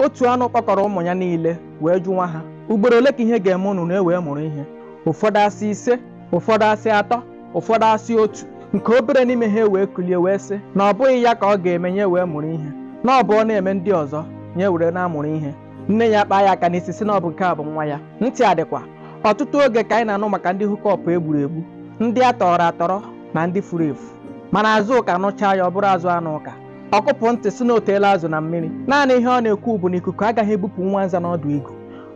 otu anụ kpọkọrọ ụmụ ya niile wee jụwa ha ugboro ole ka ihe ga-eme unu unu ewee mụrụ ihe ụfọdụ asị ise ụfọdụ asị atọ ụfọdụ asị otu nke obere n'ime ha wee kulie wee sị na ọ bụghị ya ka ọ ga-eme ya ewee mụrụ ihe na ọ bụ ọ na-eme ndị ọzọ ya ewere na-amụrụ ihe nne ya akpaa ya aka n'isi sị na ọ bụ nke a bụ nwa ya ntị adịkwa ọtụtụ oge ka anyị na-anụ maka ndị hookup e gburu egbu ndị a tọrọ atọrọ na ndị furu efu mana Azụka nụchaa ya ọ bụrụ azụ anụ ụka ọ kụpụ ntị sị na o teela azụ na mmiri naanị ihe ọ na-ekwu bụ na ikuku agaghị ebupụ nwa nza n'ọdụ igu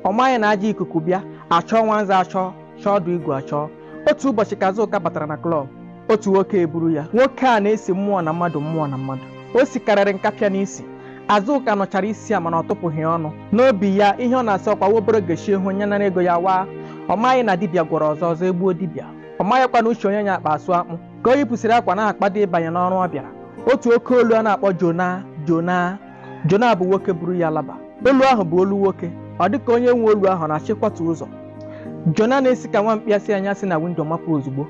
ọ maghị na ajọ ikuku bịa achọọ nwa nza achọọ chọọ ọdụ igu achọọ otu ụbọchị ka Azụka batara na klọb otu nwoke eburu ya nwoke a na-esi mmụọ na mmadụ mmụọ na mmadụ o sikarịrị nkapịa n'isi Azụka nụchara isi ya mana ọ tụpụghị ọnụ n'obi ya ihe ọ na-asị ọ kwa obere oge isi ahụ ya nara ego ya waa ọ maghị na dibịa gwọrọ ọzọ ọzọ egbuo dibịa ọ maghịkwa na uche onye nya akpa asụ akpụ ka o yipụsịrị akwa na-akwado ịbanye n'ọrụ ọ bịara otu oke olu a na-akpọ jona jona jona bụ nwoke buru ya laba olu ahụ bụ olu nwoke ọ dị ka onye nwe olu ahụ na-achọ ịkwatu ụzọ jona na-esi ka nwa mkpi asị ya si na windo mapụ ozugbo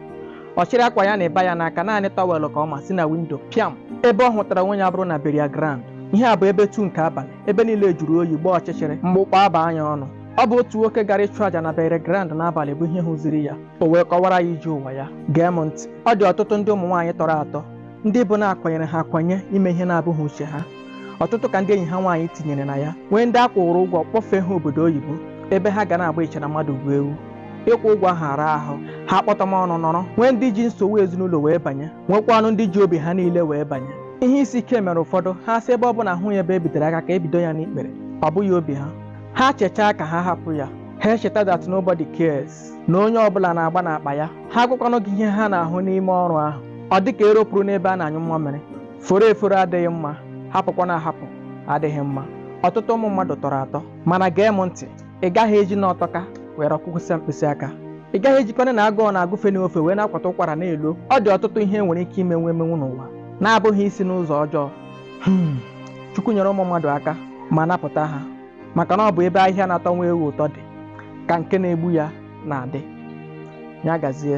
ọ chịrị akwa ya na bag ya n'aka naanị tọwelụ ka ọ ma si na windo pịam ebe ọ hụtara onwe ya bụrụ na burial ground ihe a bụ ebe two nke abalị ebe niile jụrụ oyi gbaa ọchịchịrị mkpu ọ kpọ aba ya ọnụ ọ bụ otu nwoke gara ịchụ àjà na burial ground n'abalị bụ ihe hụziri ya o wee kọwara ya ije ụwa ya gee m ntị ọ dị ọtụtụ ndị ụmụ nwaanyị tọrọ atọ ndị bụ na a kwanyere ha akwanye ime ihe na-abụghị uche ha ọtụtụ ka ndị enyi ha nwaanyị tinyere na ya nwee ndị a kwụrụ ụgwọ kpọfee ha obodo oyibo ebe ha ga na-agba iche na mmadụ bụ ewu ịkwụ ụgwọ ahụ araa ahụ ha kpọtọm ọnụ nọrọ nwee ndị ji nsogbu ezinụlọ wee banye nwekwanụ ndị ji obi ha niile wee banye ihe isi ike mere ụfọdụ ha sị ebe ọ bụ na ahụghị ebe e bidoro aka ka e bido ya n'ikpere ọ bụghị obi ha ha chechaa ka ha hapụ ya ha echeta that nobody cares na onye ọbụla na-agba n'akpa ya ha agwakwanụ gị ihe ha na-ahụ n'ime ọrụ ahụ ọ dị ka ero puru n'ebe a na-anyụ mmamịrị foro eforo adịghị mma hapụkwanụ ahapụ adịghị mma ọtụtụ ụmụ mmadụ tọrọ atọ mana gee m ntị ị gaghị eji na ọ tọka were ọkụkwụsịa mkpịsị aka ị gaghị ejikwanụ na agụụ na-agụfe n'ofe wee na-akwata ụkwara na-elo ọ dị ọtụtụ ihe e nwere ike imenwu emenwu n'ụwa na-abụghị isi n'ụzọ ọjọọ Hmm, Chukwu nyere ụmụ mmadụ aka ma napụta ha maka na ọ bụ ebe ahịhịa na-atọ nwa ewu ụtọ dị ka nke na-egbu ya na-adị ya gazie